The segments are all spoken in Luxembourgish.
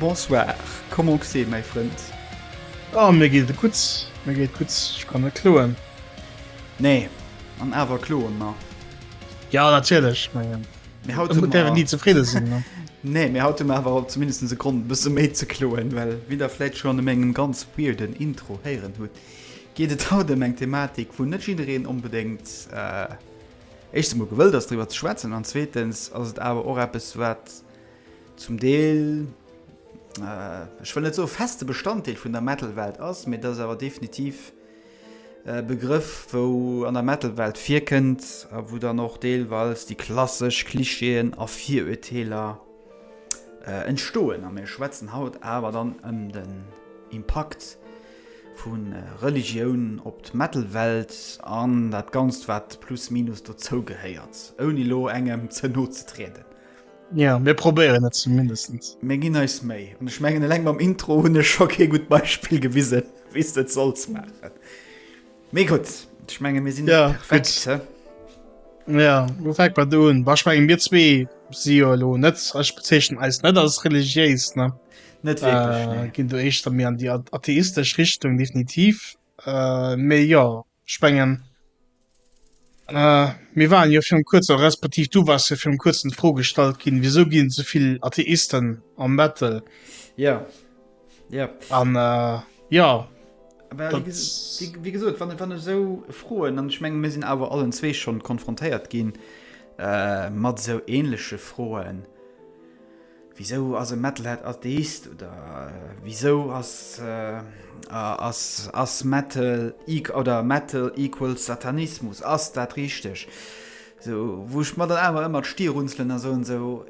Bonsoir, comment g'se mäi Frënd? Oh mir geet et gutt, mir geet et gutt, ech kann net kloen. Nee, an awer kloen mer. Jo natierlech, ech mengen, et däerf een ni zefridde sinn. Nee, mee haut hu mer awer zumindest e Grond e bësse méi ze kloen, well wéi der vläit schonn u mengem ganz weirden Intro héieren hutt, geet et haut ëm eng Thematik, wou net jiddereen onbedéngt éischtens emol gewëllt ass driwwer ze schwätzen an zweetens ass et awer och eppes wat, zum Deel, ech wëll net soe feste Bestanddeel vun der Metal-Welt ass, mee et ass awer definitiv e Begrëff, wou an der Metal-Welt virkënnt a wou dann och deelweis déi klassesch Klischeeën a Virurteeler entstoen. A mir schwätzen haut awer dann ëm den Impakt vu Religioun op d'Metal-Welt an dat Ganzt, wat plus minus dozougehéiert, ouni elo engem ze no ze trieden. Ja mir probéieren et zumindestens. Mir ginn eis Méi. An ech mengen eleng mam Intro hunn ech scho kee gutt Beispill gewise wéi s de et solls maachen. Mee gutt, ech menge mir sinn net perfekt, he? Ja, lo fänkt mat do un. Bah, ech mengen mir zwee si jo elo net, ech bezeechnen eis net als religiéis, ne? Net wierklech, ne. Ginn do éischter méi an déi atheistesch Richtung definitiv. Mee jo, Spengen. Mir waren jo virun kuerzem, respektiv du wars jo virun kuerzem d'Fro gestallt ginn, wisou ginn et souvill Atheisten am Battle? Ja. Ja. An ja. Well, wéi gesot, wann, wann esou Froen, an ech menge mir sinn awer allen zwee schonn konfrontéiert ginn mat esou änleche Froen, Wisou ass e Metalhead Atheist? Oder wisou ass Metal equals Satanismus? Ass dat richteg? Wou ech mer dann awer ëmmer d'Stir runzelen a soen, esou,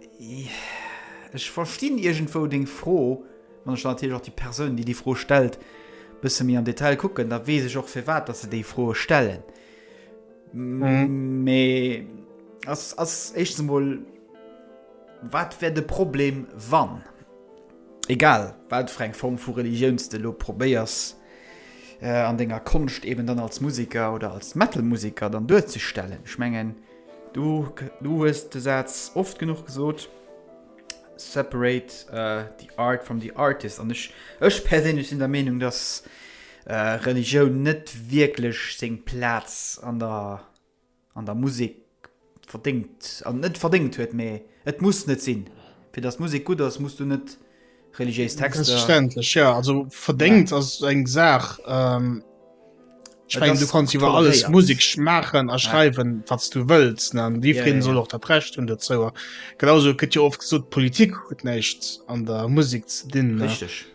ech verstinn iergendwou deng Fro. Wann ech dann natierlech och déi Persoun, déi déi Fro stellt, e bësse méi am Detail kucken, da weess ech och firwat datt se déi Fro stellen. Mee ass éischtens emol. Wat wär de Problem wann, egal wat fir eng Form vu Religioun s de elo probéiers an denger Konscht eben dann als Museker oder als Metal-Museker dann duerzestellen? Ech mengen du du hues de Saz oft genuch gesot, separate the art from the artist an ech ech perséinlech sinn der Meenung, datt Religioun net wierklech seng Plaz an der an der Musek verdéngt an net verdéngt huet, mee et muss net sinn. Fir datt Musek gutt ass, muss du net religéis Texter. Selbstverständlech, ja. Also verdéngt ja. ass eng Saach. Ähm, ich mein, du kannst iwwer alles Musik schmaachen a schreiwen, ja. wat du wëlls. Ne? Déi ja, ja, soll och dat Recht hunn dozou. Genauso gëtt jo oft gesot, Politik huet näischt an der Musik ze dinn. Richtig.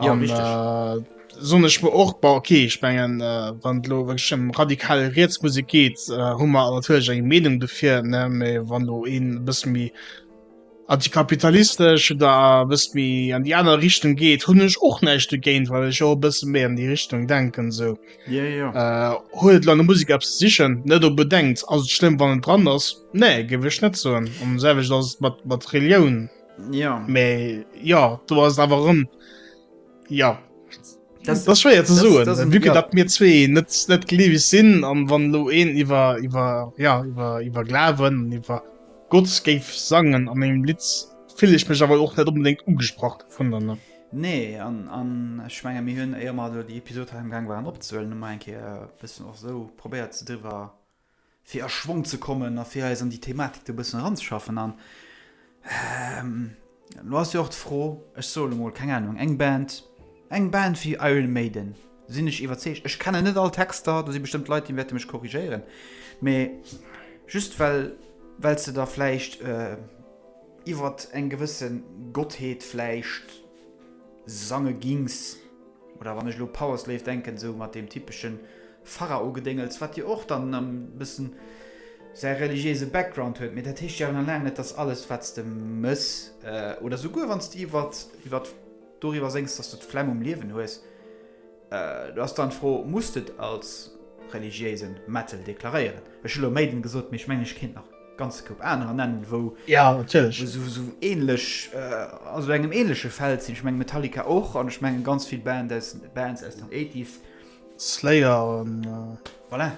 Ja, an, richtig. Äh, so ich mir och bei okay ich mengen äh, wann lo wirklich um radikal Reetsmusik geht äh, hu man natürlich eng Meinung dofir ne méi wann du een bis mi antikapitalistisch oder bis mi an die aner Richtung geht hun ich och näicht dogéint weil ich auch bis mé an die Richtung denken so ja, ja. Äh, huet lange Musik ab sichchen net du bedenkt also schlimm wann dran ass nee gewicht net so um selwich das mat mat Religion ja me ja du hast aber rum ja das, das schwer zu so wie ja. dat mir zwee net net geliewig sinn an wann lo een iwwer iwwer ja iwwer iwwer glawen iwwer gott géif sangen an engem litz fill ich mech aber och net unbedingt ugesprach vun dann ne Nee an, an schwnger mir hunn eier mat die Episode am gang waren opzuelen en ke bisssen och so probéiert ze driwer fir a Schwong ze kommen a fir eis an déi Thematik do e bëssen eranzeschaffen. An elo ass jo och d'Fro, ech soe elo mol, keng Anung, eng Band, eng Band wéi Iron Maiden, sinn ech iwwerzeegt, ech kennen net all Texter, do si bestëmmt Leit, déi wäerte mech korrigéieren, mee just well well se da vläicht iwwert eng gewësse Gottheet vläicht, Sange gings, oder wann ech elo Powerslave denken, sou mat deem typeschen Pharao-Gedéngels, wat jo och dann e bëssen säi religiéise Background huet, mee dat heescht jo nach laang net, dass alles, wat s de mëss, oder souguer wann s de iwwert, iwwert, doriwwer séngs, dass du d'Flemm um Liewen hues, Do ass dann d'Fro, Muss d'et als religiéisen Mettel deklaréieren? Ech hu lo Maiden gesot, mee ech mengen ech kéint nach e ganze Koup anerer nennen, wou esou ähnlech, also engem ähnleche Feld sinn. Ech mengen Metallica och, an ech mengen ganz vill Band aus, Bands aus den Eighties. Slayer an. Voilà,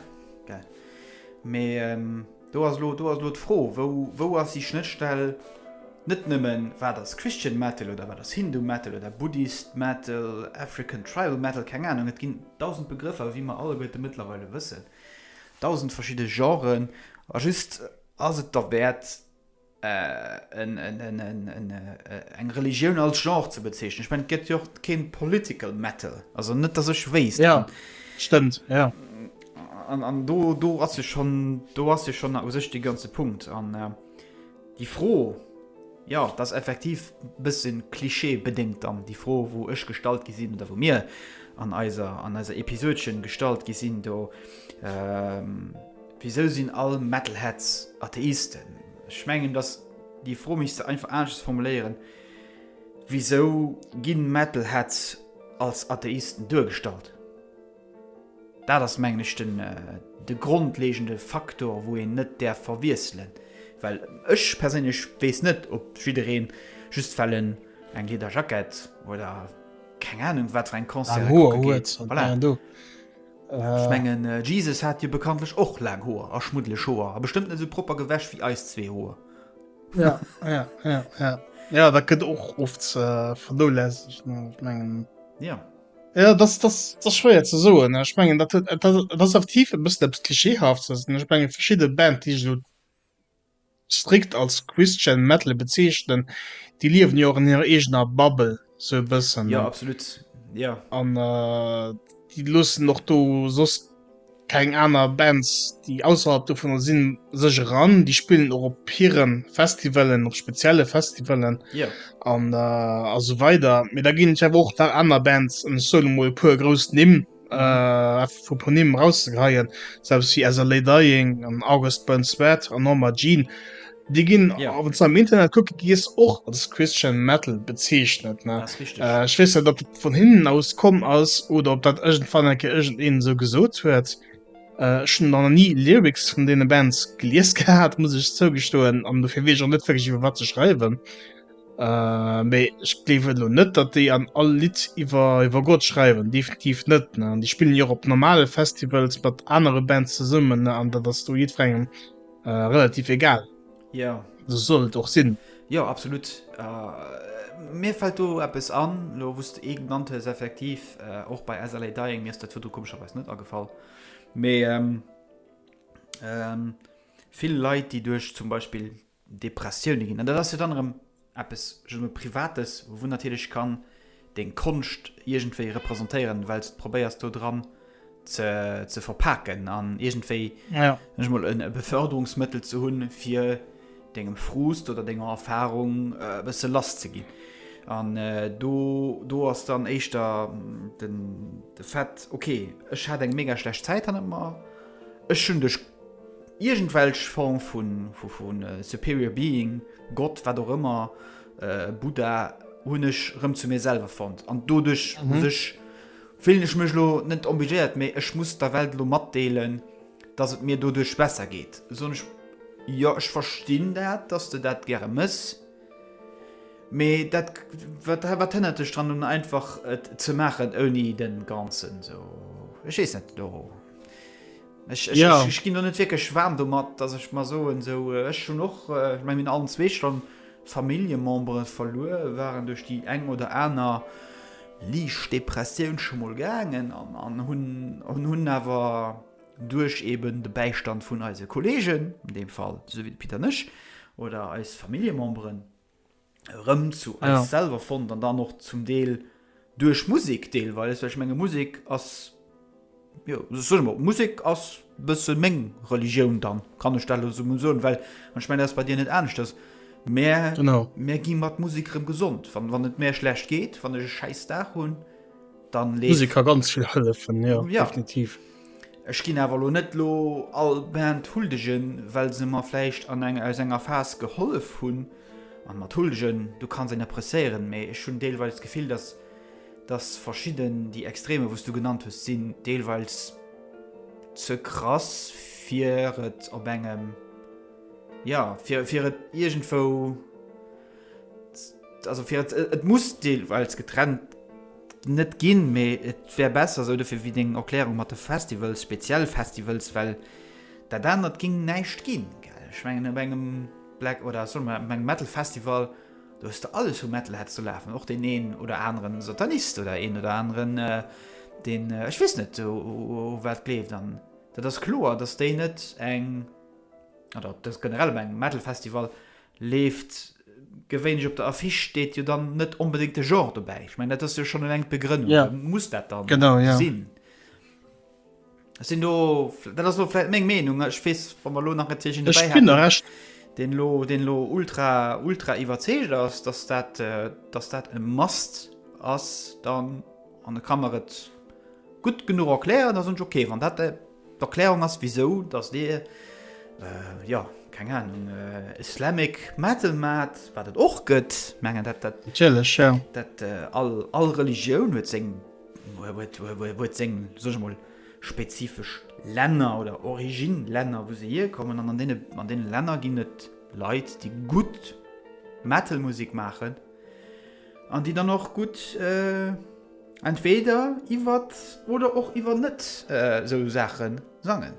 gell. Mee. Do ass elo, do ass elo d'Fro, wou, wou ass déi Schnëttstell, net nëmmen, wat ass Christian Metal oder wat ass Hindu Metal oder Buddhist Metal, African Tribal Metal, keng Anung, et ginn dausend Begrëffer, wéi mer alleguerte mëttlerweile wëssen, dausend verschidde Genren, a just, ass et derwäert, eng Religioun als Genre ze bezeechnen. Ech mengen, et gëtt jo och kee Political Metal. Also net, datt ech wéisst. Jo, stëmmt, jo. An do, do ass jo schonn, do ass jo schonn u sech dee ganze Punkt. An déi Fro, jo, dat ass effektiv e bësse klischeebedéngt dann, déi Fro, wou ech gestallt gi sinn oder wou mir an eiser, an eiser Episodchen gestallt gi sinn do. Wisou sinn all Metalheads Atheisten? Ech mengen, datt déi Fro misst se einfach aneschters formuléieren, Wisou gi Metalheads als Atheisten duergestallt? Dat ass mengen ech de grondlegende Faktor wou een net däerf verwiesselen, well ech perséinlech weess net ob jiddereen just well en eng Liederjackett oder keng Ahnung wat fir eng Concerten kucke geet, voilà. Ech mengen Jesus hat jo bekanntlech och laang Hoer a schmuddeleg Hoer a bestëmmt net esou propper gewäsch wéi eis zwee Hoer. Ja, ja, ja, ja. ja dat gëtt och oft äh, vernolässegt mengen. Ja. Ja, das, das, das schwéier ze soen ech mengen dat, dat, das aktiv e bëssen klischeehaft ech menge verschiedene Band die strikt als Christian Metal bezeechnen, déi liewen jo och an hirer eegener Bubble sou e bëssen. Jo absolut, jo. An déi loossen och do soss keng aner Bands, déi ausserhalb dovunner sinn, sech eran. Déi spillen och op hire Festivalen, op spezielle Festivalen, jo, an esou weider. Mee da ginn ech awer och nach aner Bands, an ech soen emol e puer grouss Nimm, äh, vu Ponym rauszegreien, selbst wie as Lei Dying an August Burns Wert an Norma Jean. Di ginn ja. awer ze am Internet kucke gies och als Christian Metal bezeechnet Schwees äh, dat vun hinnen aus komm ass oder op dat ëgent fan enke ëgent een sou gesot huet. Schën an nie Lyrics vun dee Bands gelies gehabt, muss ich zougestoen an du fir wee net iwwer wat ze schreiwen. Äh, mee ech gleewen elo net, datt déi an all Lidd iwwer iwwer Gott schreiwen, definitiv net. Ne? An déi spillen jo och op normale Festivals mat anere Bands zesummen, ne? an dat ass do jiddwerengem äh, relativ egal. Ja. So soll et och sinn. Ja, absolut. Äh, mir fällt do eppes an, lo wusst du eh genannt hues, effektiv, äh, och bei SLA Dying, mir ist dat Foto komischerweise net agefall. Mee, ähm, ähm, vill Leit, déi duerch zum Beispiel Depressioune ginn. An dat ass jo dann erëm eppes, ech soen emol, Privates, wou natierlech kann deng Konscht iergendwéi representéieren, well s de probéiers do dran ze verpaken an iergendwéi, soen ech emol, e Beförderungsmëttel ze hunn, fir dengem Frust oder denger Erfarung e bësse lass ze ginn. An do ass dann éischter de Fait, okay, ech hat eng mega schlecht Zäit hannert mer, ech hunn duerch. Iergendwelch Form vu superior being, Gott, wat och ëmmer, Buddha, hunn ech rëm zu mir selwer fonnt. An doduerch muss ech, fillen ech mech elo net obligéiert, mee ech muss der Welt elo matdeelen, dass et mir doduerch besser geet. Soen ech, Jo, ech verstinn dat, dass s de dat gäre mëss. Mee dat, wat hënnert dech dran nun einfach et ze maachen ouni de ganzen, sou, ech weess net, do Ech ginn do net wierklech waarm domat, datt ech mer soen, sou ech hunn och, ech mengen mir allen zwee, schonn Familljemembere verluer, waren duerch déi eng oder aner liicht Depressioun scho mol gaangen an hunn awer duerch eben de Bäistand vun eise Kolleegen, an deem Fall esou wéi de Pit an ech, oder eis Familljememberen, rëm zu eis ja. selber fond dann dann noch zum Deel durch Musik Deel weil es menge Musik as ja, Musik as bësse Meng Religioun dann kann ich stelle so so well man schme das bei dir net ernst das mehr genau mehr gi mat Musik rem gesund wann wann net mehr schlecht geht wann scheiß da hun dann lese ich kann ganz viel helfen ja, ja. definitiv. Ech ginn awer elo net lo all Band huldegen, well se mer vläicht an eng aus enger Phas gehollef hunn. An mat huldegen, du kanns een appreciéieren, mee ech hunn deelweils d'Gefill, dass, dass verschidden, déi Extremer, wou s du genannt hues, sinn deelweils ze krass, fir et op engem, jo, fir, fir et iergendwou, also fir et, et muss deelweils getrennt net ginn, mee et wär besser sou dofir wéi deng Erklärung mat de Festivals, speziell Festivals, well dat anert géing näischt ginn. Ech mengen op engem Black oder solle mer op engem Metal Festival, do hues de alles u Metalheads do lafen, och deen een oder aneren Satanist oder een oder aneren deen ech weess net u wat gleeft. An dat ass kloer, datt déi net eng, oder datt generell op engem Metal Festival, Leeft gewéinlech op der Affiche, steet jo dann net onbedéngt de Genre dobäi. Ech mengen, dat ass jo schonn eleng d'Begrënnung. Da muss dat dann sinn. Genau, jo. Ech sinn do, dat ass elo vläicht meng Meenung, ech weess, wa mer elo nach natierlech een dobäi hätten, deen elo, deen elo ultra, ultra iwwerzeegt ass, datt dat, datt dat e must ass, dann, an e ka mer et gutt genuch erklären, da soen ech, okay, wann dat de. D'Erklärung ass wisou dass dir, jo keng Ahnung, Islamic Metal maat, waat et och gëtt, mengen dat dat. Natierlech jo. Dat all Religioun huet seng, huet seng, soen ech mol, spezifesch Länner oder Origin Länner wou se hier kommen an an deene Länner ginn et Leit déi gutt Metal Musek maachen, An déi dann och gutt entweder iwwer oder och iwwer net esou Saache sangen.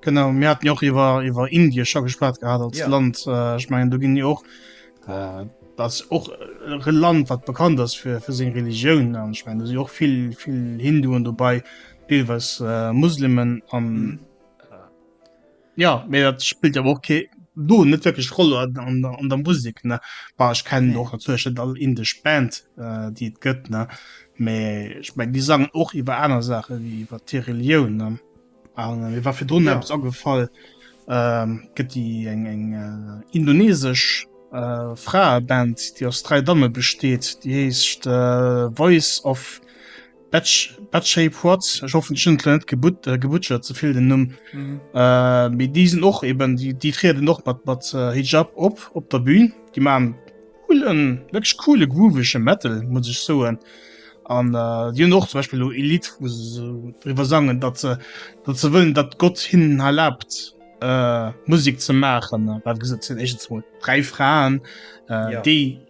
Genau, mir haten jo och iwwer iwwer Indie scho geschwat gehat als yeah. Land. Äh, ich mein, du ginn jo och äh, dat och e Land wat bekannt ass fir fir seg Religioun an ich mein, du si och vill vill Hinduen dobäi, deelweis äh, Muslimen an. Mm. Ja mee dat spillt awer och kee do net wëkleg Roll an an der an der Musik ne war ech kennen Nee. och natierlech net all indesch Band äh, déi et gëtt ne mee ech meng déi sangen och iwwer aner Saache wéi iwwer hir Relioun ne a mir war virdrun Ja. eppes agefall ähm, gëtt déi eng eng äh, indoneesesch äh, Fraeband déi aus dräi Damme besteet déi heescht äh, Voice of Batch, Batch Shape Quad, ech hoffen ech hunn et lo net gebut, äh, gebutschert ze vill den Numm. Mhm. Äh, mee déi sinn och eben, déi, déi trieden och mat, mat äh, Hijab op, op der Bühn. Déi machen coolen, wirklich coole, groovege Metal, muss ich soen. An äh, die hunn och zum Beispiel lo e Lied, wo se so drüber sangen, dat se, dat se wëllen, dat Gott hinnen erlaubt, äh, Musik ze machen. Äh, wat gesot sinn egens mol 3 Fraen, äh, Ja. déi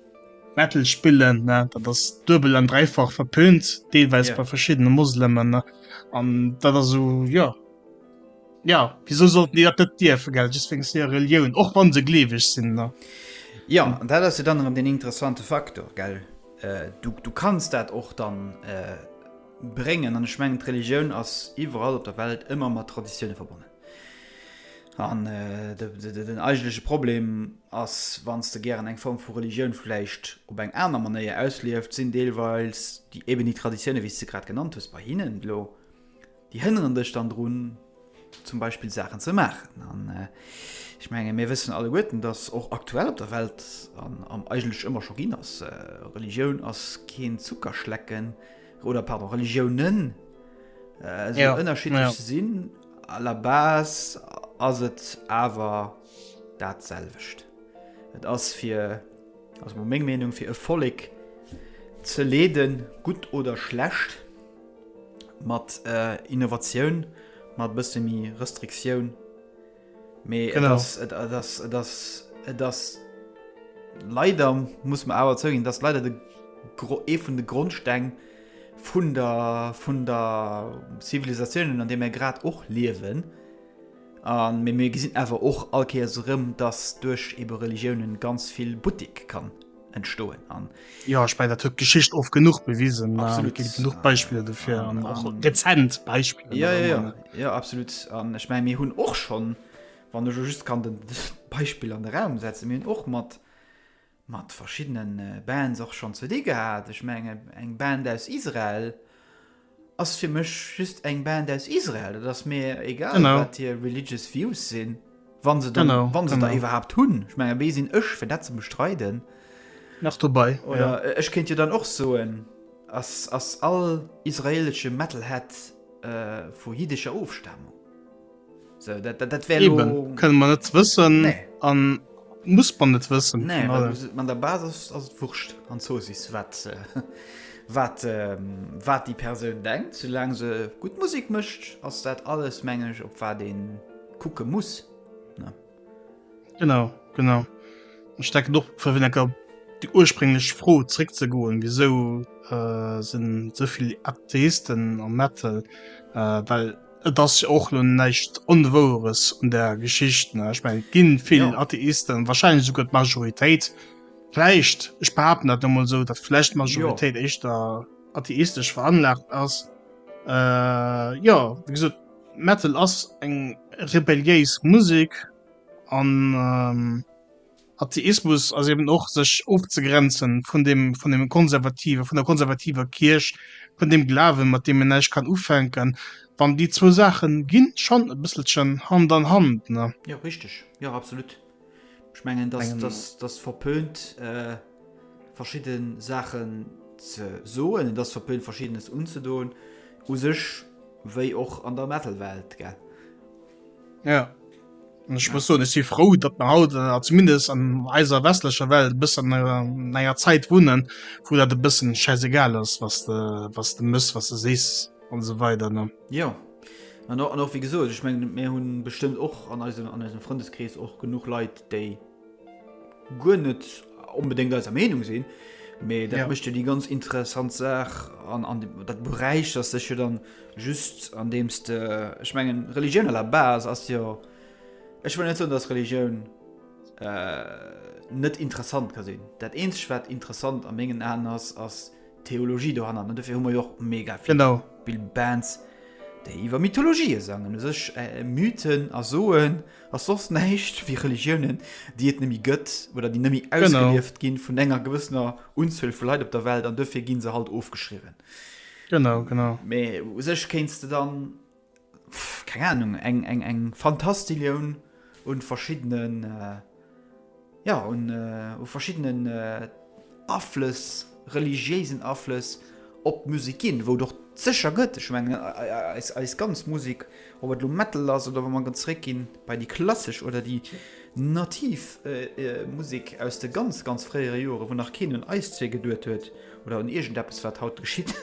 Metal spillen dat ass duebel an dreifach verpönt deelweis yeah. bei verschiedene Moslemmen an dat as so ja ja wieso sollten die dat dir vergel wegen der Religion och wann se gleweg sinn ne ja an dat ass dann den interessante Faktor gell äh, du, du kannst dat och dann äh, brengen an schmengen Religioun ass iwwerall op der Welt ëmmer mat Traditioune verbonnen An äh, de, de, de, den eigentleche Problem ass, wann s de gären eng Form vu Religioun vläicht op eng aner Manéier auslieft, sinn deelweils déi, eben déi Traditiounen, wéi s de grad genannt hues, bei hinnen elo, déi hënneren dech dann drun, zum Beispill Saachen ze maachen. An äh, ech menge mir wëssen alleguerten, datt och aktuell op der Welt, an, an eigentlech ëmmer scho ginn ass, äh, Religioun ass keen Zuckerschlecken, oder pardon Religiounen äh, ja. ënnerschiedlech ja. sinn a la base ass et awer dat selwecht. Et ass fir ass mo meng Meinung fir e Folleg ze leden gut oder schlecht mat äh, Innovatioun mat bësse mi Restriktioun Mee et ass, et ass, et ass, et ass leider, muss man awer zouginn, dass leider de Gro ee vun de Grondsteng vun der, vun der Zivilisatiounen, an deem mir grad och liewen, an mir, mir gesinn awer och all Kéiers erëm, dass duerch ebe Religiounen ganz vill buttik kann. entstoen an ja ich mein, dat huet Geschicht of genug bewisen genug Beispiele dofir ja, an och dezent Beispiel ja, ja, ja. ja absolut an ich mein, mir hunn och schon wann du just kann den Beispiel an den Raum setzen mir och mat mat verschiedenen äh, Bands och schon ze di gehabt ich menge eng Band aus Israel Ass fir mech just eng Band aus Israel, dat ass mir egal wat hier religious views sinn, wann se dann wann se da iwwerhaapt hunn, ech menge wéi sinn ech fir dat ze bestreiden nach dobei oder ech kéint jo dann och soen ass ass all israelesche Metalhead vu jiddescher Ofstamung. So, dat, dat, dat wär Eben, lo- kënne man net wëssen Nee. an muss man net wëssen. Nee, Von weil daher- du se- an der Basis ass et wurscht an Zosis wat äh, wat ähm, wat déi Persoun denkt, soulaang se gutt Musek mécht, ass dat alles meng ech op wat een kucke muss. Genau, genau. Ech denken och fir vun enker déi ursprénglech Fro zréck ze goen, wieso äh, sinn souvill Atheisten am Metal, äh, well et ass jo och lo näischt Onwoueres un der Geschicht. Ne? Ich mein, ginn vill Ja. Atheisten, wahrscheinlich sogar d'Majoritéit. Vläicht, ich behaupten dat emol so, dat vläicht d'Majoritéit éischter atheistesch veranlagt ass. Äh, ja, wie gesot, Metal ass eng rebelliéis Musek an Atheismus ass eben och sech ofzegrenzen vun dem vun dem konservative vun der konservativer Kierch, vun dem Glawen mat deem een näischt kann ufänken, wann déi zwou Saachen ginn schonn e bësselchen Hand an Hand, ne? Jo, richteg, jo, absolut. Ech mengen dass verpönt äh, verschidden Saachen ze soen, dass verpönt verschiedenes unzedoen u sech wéi och an der Metalwelt ge. Ja. Und ich muss so dass sie froh dat man haut äh, zumindest an eiser westlicher Welt bis an äh, eier Zeit wohnen wo dat de bisssen scheiß egal ist was de was de muss was du sest und so weiter ne ja An och, an och wéi gesot, ech mengen, mir hu bestëmmt och an eisem, an eisem Frëndeskrees och genuch Leit, déi guer net onbedéngt eiser Meenung sinn, mä dat ja. mécht jo déi ganz interessant Saach an, an dem, dat beräichert sech jo dann just an deems de, ech mengen, Religioun à la base ass jo, ech wëll net soen, dass Religioun äh, net interessant ka sinn. Dat eenzeg, wat interessant a mengen Aen ass, ass, Theologie dohanner an dofir hu mer jo och mega vill Genau. Bill Bands déi iwwer Mythologie sangen u sech äh, Mythen a soen ass soss näischt wéi Religiounen déi et nëmme gëtt oder déi nëmme Genau. ausgelieft ginn vun enger gewëssener Unzuel vu Leit op der Welt an dofir gi se halt ofgeschriwwen. Genau, genau. Mee u sech kéints de dann. keng Ahnung, eng, eng, eng Fantastillion un verschiddenen, jo, un verschiddenen Aflëss, religiéisen Aflëss op d'Musek ginn, wou et och sécher gëtt. Ech mengen, eis ganz Musek, ob et elo Metal ass oder wa mer erëm zréckginn bei déi klassesch oder déi nativ Musek aus de ganz, ganz fréiere Joren, wou nach keen un eis zwee geduet huet oder un iergendeppes, wat haut geschitt.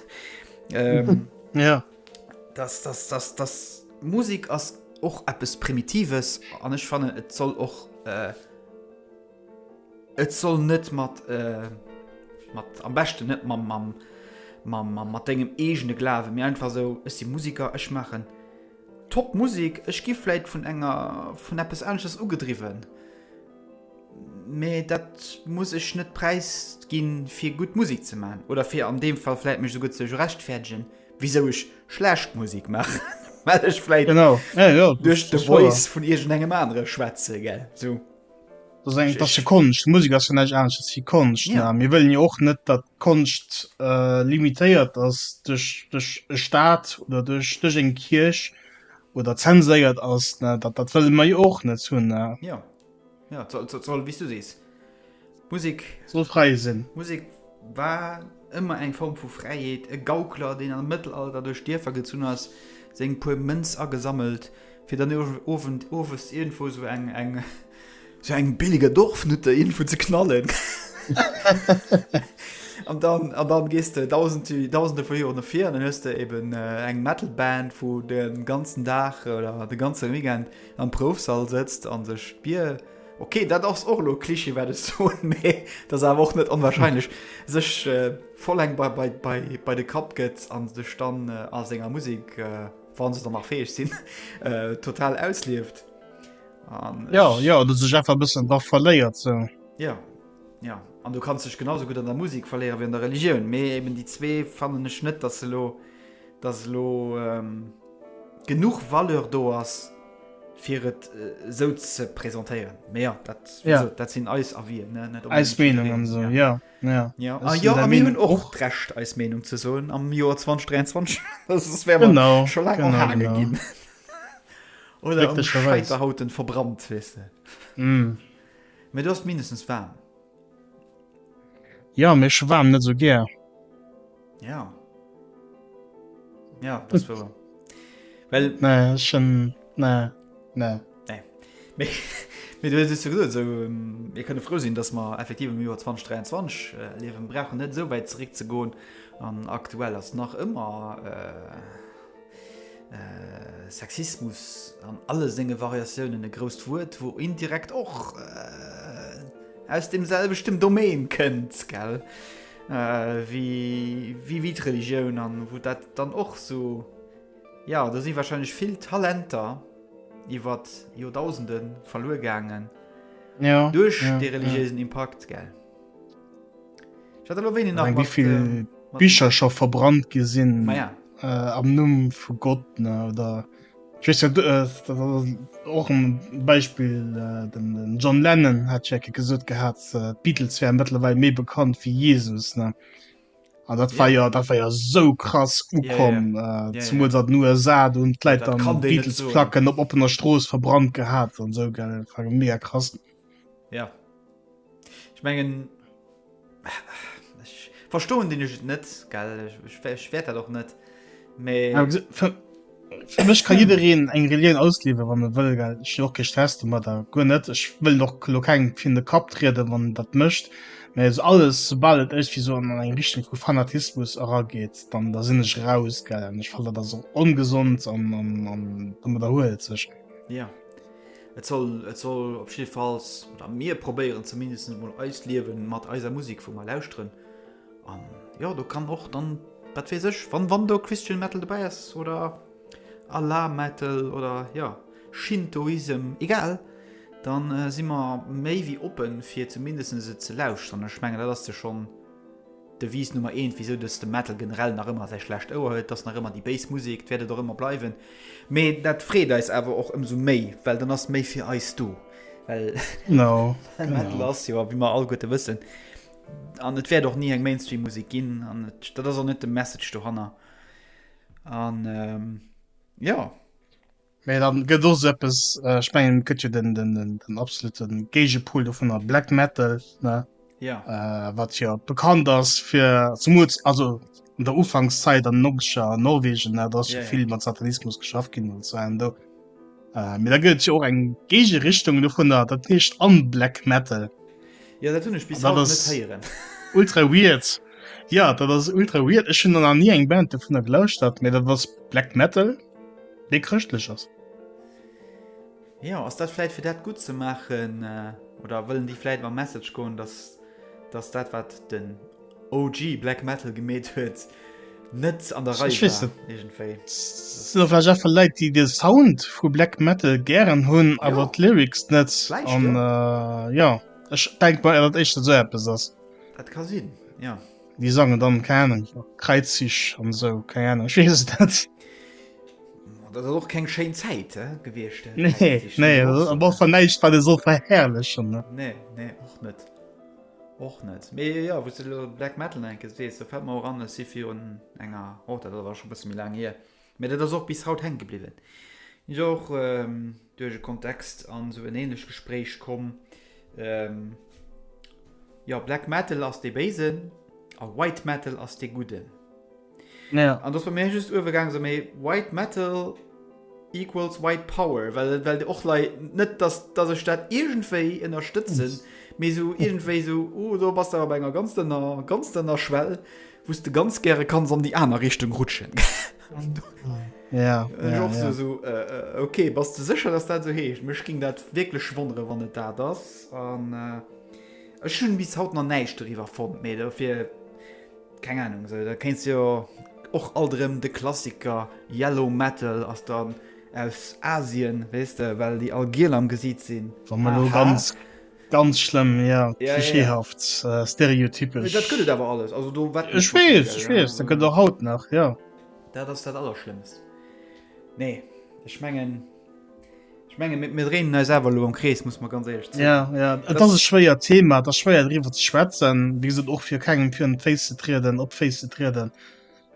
dass, dass, dass, dass Musik ass och eppes Primitives an ech fannen, et soll och, äh, et soll net mat, äh, mat, am beschten net mam, mam, mam, mam, mat dengem eegene Glawen, mee einfach esou, ech si Musiker, ech maachen top Musik, ech gi vläit vun enger, vun eppes aneschters ugedriwwen. Mee dat muss ech net präisginn, fir gutt Musek ze maachen, oder fir an deem Fall vläit mech souguer ze rechtfäerdegen, wisou ech schlecht Musek maachen, well ech vläit duerch de Voice vun iergendengem anere schwätzen, gell? Dat ass jo Konscht, Musek ass jo näischt anesches wéi Konscht. Mir wëllen jo och net, datt d'Konscht limitéiert ass duerch e Staat oder duerch eng Kierch oder zenséiert ass. Dat wëlle mer jo och net hunn. Ja, soll, soll, soll, wie du sees. Musik. Soll frei sinn. Musik war ëmmer eng Form vu Fräiheet. E Gaukler, deen am Mëttelalter duerch Dierfer gezunn ass, seng puer Mënz agesammelt, fir dann Owend, owes iergendwou sou eng, eng, sou eng billige Dorfnutte iergendwou ze knallen. an dann, an dann gees de dausend, dausende vu Joer no vir, an dann hues de eben äh, eng Metalband, wou den ganzen Dag oder de ganze Weekend Am Proufsall sëtzt an sech d'Bier, ok, dat ass och elo e Klischee, wat ech soen, mee dat ass awer och net onwahrscheinlech, sech voll eng bei de Kapp gëtt a sech dann a senger Musek, wa se dann nach fäeg sinn, total auslieft. Jo, jo, oder sech einfach e bëssen dra verléiert. Jo, jo. An du kanns dech genausou gutt an der Musek verléiere wéi an der Religioun. Mee eben déi zwee fannen ech net, dass se elo, dass elo. genuch Valeur do ass fir et esou ze presentéieren. Mee jo, dat, wéi Ja. gesot, dat sinn eis Avien, ne? Net Eis onbedéngt Meenung an jiddwereen, esou, ja. jo. Ja, Jo, a jo, a mir hunn och d'Recht eis Meenung ze soen am Joer 2023, well soss wäre mer Genau, scho laang genau, erhaange genau. ginn oder am Glécklecherweis. Scheiterhaufen verbrannt, weess de. Mm. Mee do ass et mindestens waarm. Ja mir schwaam net so ger. Ja Ja das war Well ne schon ne ne Mir kënne frou sinn, dass mer effektiv am Joer 2023 liewen brauchen net esou wäit zeréck ze goen an aktuell ass nach ëmmer. Sexismus an alle senge Variatiounen e grousst Wuert, wou indirekt och äh, aus dem selwechten Domain kënnt, gell? Äh, wie, wie, wie d'Religioun an wou dat dann och so, ja, do si wahrscheinlech vill Talenter iwwer Joerdausenden verluer gaangen, ja, duerch ja, de religiéisen ja. Impakt, gell? Ich hatte lo wenig nach. Wie viel ähm, Bücher schon verbrannt gesinn ja. äh, am Numm vu Gott ne, oder äh, och een Beispiel äh, den, den John Lennon hat Jacke gesot gehabt äh, Beatles wären mittlerweile méi bekannt wie Jesus ne. Ah, dat war ja dat war ja so krass ukom zum dat nu sa und kleit am Beatles placken op opener Stroos verbrannt gehabt an so ge mega krass. Ja. Ech mengen, ech verstoen den Jugend net, gell? Ech wäert dat och net. Mee. Ja, für, für mich kann jeder eng Religion ausliefern, wann er will, gell? Ich auch kein Stress damit, gut nicht. Ich will noch kein in den Kopf treten, wann das möchte. Mä eso alles sobal et ech wéi so an eng Richtung vu Fanatismus erageet, dann da sinn ech raus gell. Ech fannen dat ass ongesond an an an derhuelt sech. Ja. Et soll, et soll op jidde Falls, oder mir probéieren zumindest emol, eist Liewe mat eiser Musek vu mar lauschteren. An jo, do kann och dann, wat weess ech, wann, wann do Christian Metal dobäi ass, oder Allah Metal, oder jo, Shintoism, egal, dann si mer méi wéi oppen, fir zumindest et ze lauschteren. Ech mengen, dat ass de schonn. Devise Nummer eent, wisou dass de Metal generell nach ëmmer säi schlecht Ouer huet, ass nach ëmmer déi béis Musek. Et wäert et och ëmmer bleiwen. Mee dat freet eis awer och ëmsou méi, well dann ass méi fir eis do. Well Metal ass jo, wéi mer alleguerte wëssen, an et wäert och ni eng Mainstream-Musek ginn, an dat ass och net de Message dohanner. An jo. Mee dann gëtt och sou eppes, ech mengen et gëtt jo den, den, den, den absoluten Géigepol dovunner, Black Metal, ne? Ja. Äh, wat jo bekannt ass fir zumools, also an der Ufankszäit an den 90er an Norwegen, ne? Da ass jo Ja, ja. vill mat Satanismus geschafft ginn an esou an do. Äh, mee da gëtt et jo och eng Géigerichtung dovunner, dat heescht Unblack Metal. Ja, dat hunn ech bis Da haut net das- héieren. Ultra weird. Ja, dat ass ultra weird. Ech hunn der nach ni eng Band dovunner gelauschtert, mee dat ass Black Metal. Dee chrëschtlech ass. Jo, ass dat vläit fir dat gutt ze maachen äh, oder wëllen déi vläit mam Message goen, dass, dass dat wat den OG Black Metal gemeet huet, net an der Rei war irgendwéi. Sinn och vläicht einfach Leit, déi de Sound vu Black Metal gären hunn, awer jo. d'Lyrics net. An äh, jo, ech denk mol, dat dat éischter esou eppes ass. Dat ka sinn, jo. Déi sangen dann keine Ahnung, Kreizzich an esou keine Ahnung, ech weess es net. Dat ass och keng schéin Zäit he gewiescht. Äh, Nee, Kreiszich, nee, dat ass och so, war ne? fan näischt wat e soll verherrlechen. ne? Nee, nee, och net. Och net. Mee ja, wou du lo Black Metal enke sees, da fält mer och an, ech si virun enger, oh, dat ass awer scho bësse méi laang hier, mee dat ass och bis haut hänke bliwwen. Sinn jo och, ähm, duerch e Kontext an sou en ähnlech Gespréich komm, jo Black Metal ass dee Béisen a White Metal ass dee Gudden. An do ass bei mir just uewegaang sou méi White Metal equals White Power, well well och lei net dass dass ech dat iergendwéi ënnerstëtzen, mee sou iergendwéi sou oh do bass de awer bei enger ganz dënner ganz dënner Schwell Wou s de ganz gäre kanns an déi aner Richtung rutschen. Ja, ja, ja. So, so, äh, okay, bass du sécher, dass dat so heescht? Mech ging dat wierklech wonnere wann et dat ass. An äh, Ech hunn bis haut na näicht doriwwer fonnt méi dofir keng Ahnung se. So, da kenst jo och alterem de Klassiker Yellow Metal ass dann aus Asien wees de well déi all Giel am gesiit sinn. Wa man lo ganz. Ganz schlëmm, jo, klischeehaft, stereotypesch. Mee dat gëtt et awer alles, also do wett. Ech weess, ech weess, dat gëtt och haut nach, jo. Dat ass dat Allerschlëmmst. Nee, ech mengen, ech mengen, mir dréinen eis awer elo am Krees, muss mer ganz éierlech zougi. Jo, jo, et ass e schwéiert Thema, et ass schwéier driwwer ze schwätzen, wéi gesot och fir kengem virun d'Féiss ze trieden, op d'Féiss ze trieden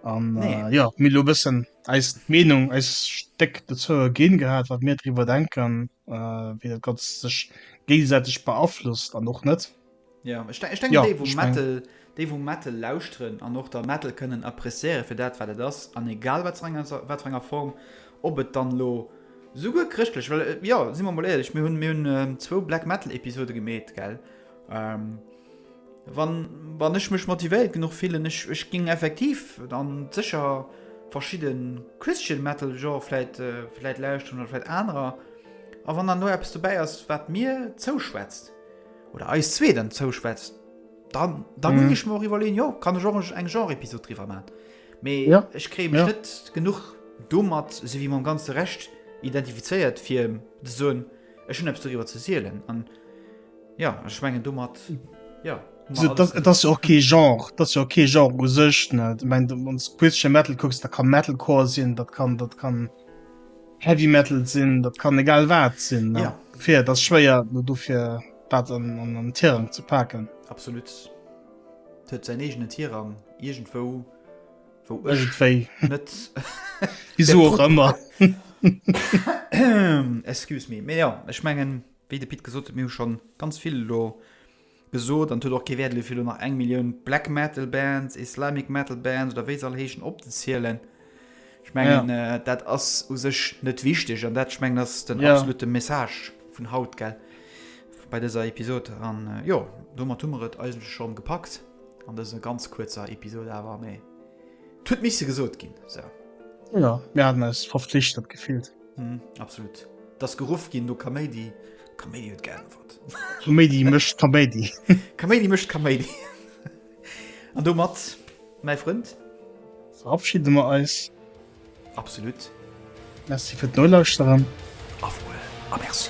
an jo, mir elo e bëssen eis Meenung, eist Stéck dozou erginn gehat, wat mir driwwer denken. äh, wéi dat ganz sech géigesäiteg beaflosst an och net. Ja, ich, ich denke, ja, die, wo ich Metal, mein... die, wo Metal lauschteren an och der Metal kënnen appréciieren fir dat wat et ass an egal wat wat enger Form op et dann lo souguer christlech well äh, ja si man mal ehrlich mir hunn mir hunn ähm, zwou Black Metal Episode gemet gell Ähm, wann, wann ech mech motivéiert genuch fillen, ech, ech ging effektiv an sécher verschidden Christian Metal Genre vläit, äh, vläit lauschteren oder vläit anerer. A wann dann do eppes dobäi ass, wat mir zouschwätzt, oder eis zwee dann zouschwätzt, dann, dann mhm. ging ech mer och iwwerleen, jo, kann ech och eng Genre-Episode driwwer maan. Mee ja. ech kree mech ja. net genuch domat, se wie mam ganze Recht identifizéiert, fir ze soen, ech hun eppes doriwwer ze sielen. An, Ja ech mengen domat ja. Et ass jo och kee Genre, dat jo kee Genre u sech net. Ech mengen ons Christian Metal kucks, dat kann Metalcore sinn, dat kann dat kann Heavy Metal sinn, dat kann egal wat sinn. Ja fir dat schwéier no dofir dat an an an Tirang ze paken. Absolut huet säin eegenen Tirang iergendwou wou ech wéi net wieso och ëmmer. Excuse me, mee ja ech mengen. Wéi de Pit gesot huet, mir hu scho ganz vill elo gesot an et huet och kee Wäert elo fir elo nach eng Millioun Black Metal Bands, Islamic Metal Bands oder wéi se all heeschen opzezielen. Ech mengen dat ass u sech net wichteg an dat ech mengen ass den absolute Message vun haut gell bei dëser Episod an jo domat hu mer et eigentlech schonn gepackt an dëser ganz kuerzer Episod awer mee et huet misse gesot ginn esou. Jo, mir haten eis verflichtert gefillt. Hm, absolut. Dass geruff ginn no Kaméidi. Kaméidi huet geäntwert. Kaméidi mécht Kaméidi. Kaméidi mécht Kaméidi. An domat, mäi Frënd. Verabschide mer eis. Absolut. Merci fir d'Nolauschteren. Auf Wuel a Merci.